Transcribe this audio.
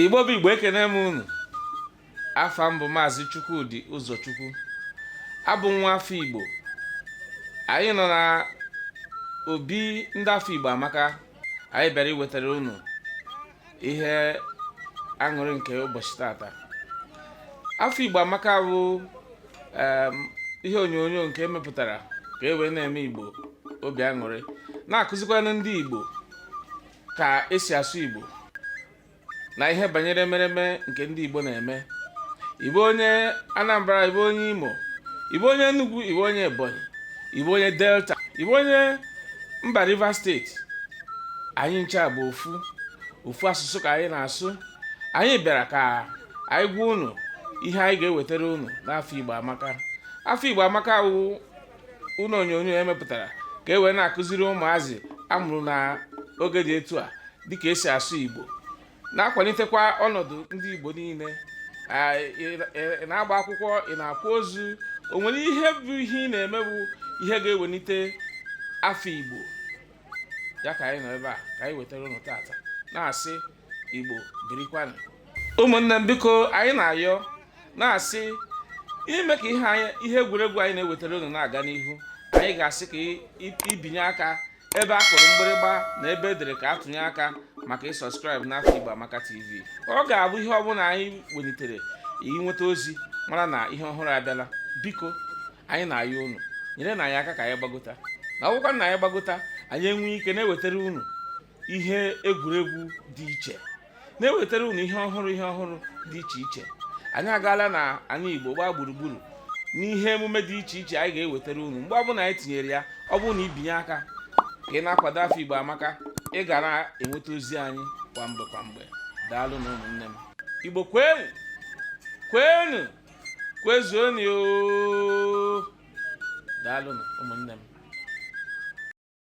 igbo bụ igbo ekene m unu afa m bụ maazị Chukwudi Ụzọchukwu abụ m nwa afọ Igbo anyị nọ na obi ndị afọ Igbo amaka anyị bịara iwetara unu ihe aṅụrị nke ụbọchị tata afọ Igbo amaka bụ ihe onyonyo nke emepụtara ka e wee na-eme Igbo obi aṅụrị na-akụzikwanụ ndị Igbo ka esi asụ Igbo na ihe banyere emereme nke ndị Igbo na-eme ị bụ onye Anambra ị bụ onye Imo ị bụ onye Enugu ị bụ onye Ebonyi ị bụ onye Delta ị bụ onye mba Rivers steeti anyị ncha bụ ofu ofu asụsụ ka anyị na-asụ anyị bịara ka anyị gwa unu ihe anyị ga-ewetara unu n'afọ Igbo amaka afọ Igbo amaka wụ ụnọ onyonyo emepụtara ka e wee na-akụziri ụmụazị amụrụ na oge dị etu a dịka esi asụ Igbo na-akwanitekwa ọnọdụ ndị Igbo niile ị na-agba akwụkwọ ị na-akwa ozu o nwere ihe bụ ihe ị na-eme bụ ihe ga-ewenite afa Igbo ya ka anyị nọ ebe a ka anyị wetara unu tata na-asị Igbo birikwanụ ụmụnne m biko anyị na-ayọ na-asị ime ka ihe anyị ihe egwuregwu anyị na-ewetara unu na-aga n'ihu anyị ga-asị ka i binye aka ebe a kụrụ mgbịrịgba na ebe edere ka atụnye aka maka ịsọskraịbụ n'afọ Igbo Amaka TV ọ ga-abụ ihe ọbụna anyị wenitere i nweta ozi mara na ihe ọhụrụ abịala biko anyị na-ayọ unu nyerenụ anyị aka ka anyị gbagota na ọ wụkwa na anyị gbagota anyị enwee ike na-ewetara unu ihe egwuregwu dị iche na-ewetara unu ihe ọhụrụ ihe ọhụrụ dị iche iche anyị agaala na anị igbo gbaa gburugburu n'ihe emume dị iche iche anyị ga-ewetara unu mgbe ọbụna anyị tinyere ya ọ bụrụ na i binye aka ka ị na-akwado afọ igbo amaka ị ga na-enweta ozi anyị kwa mgbe kwa mgbe daalụnụ ụmụnne m igbo kwenu kwenu kwezuonu o daalụnụ ụmụnne m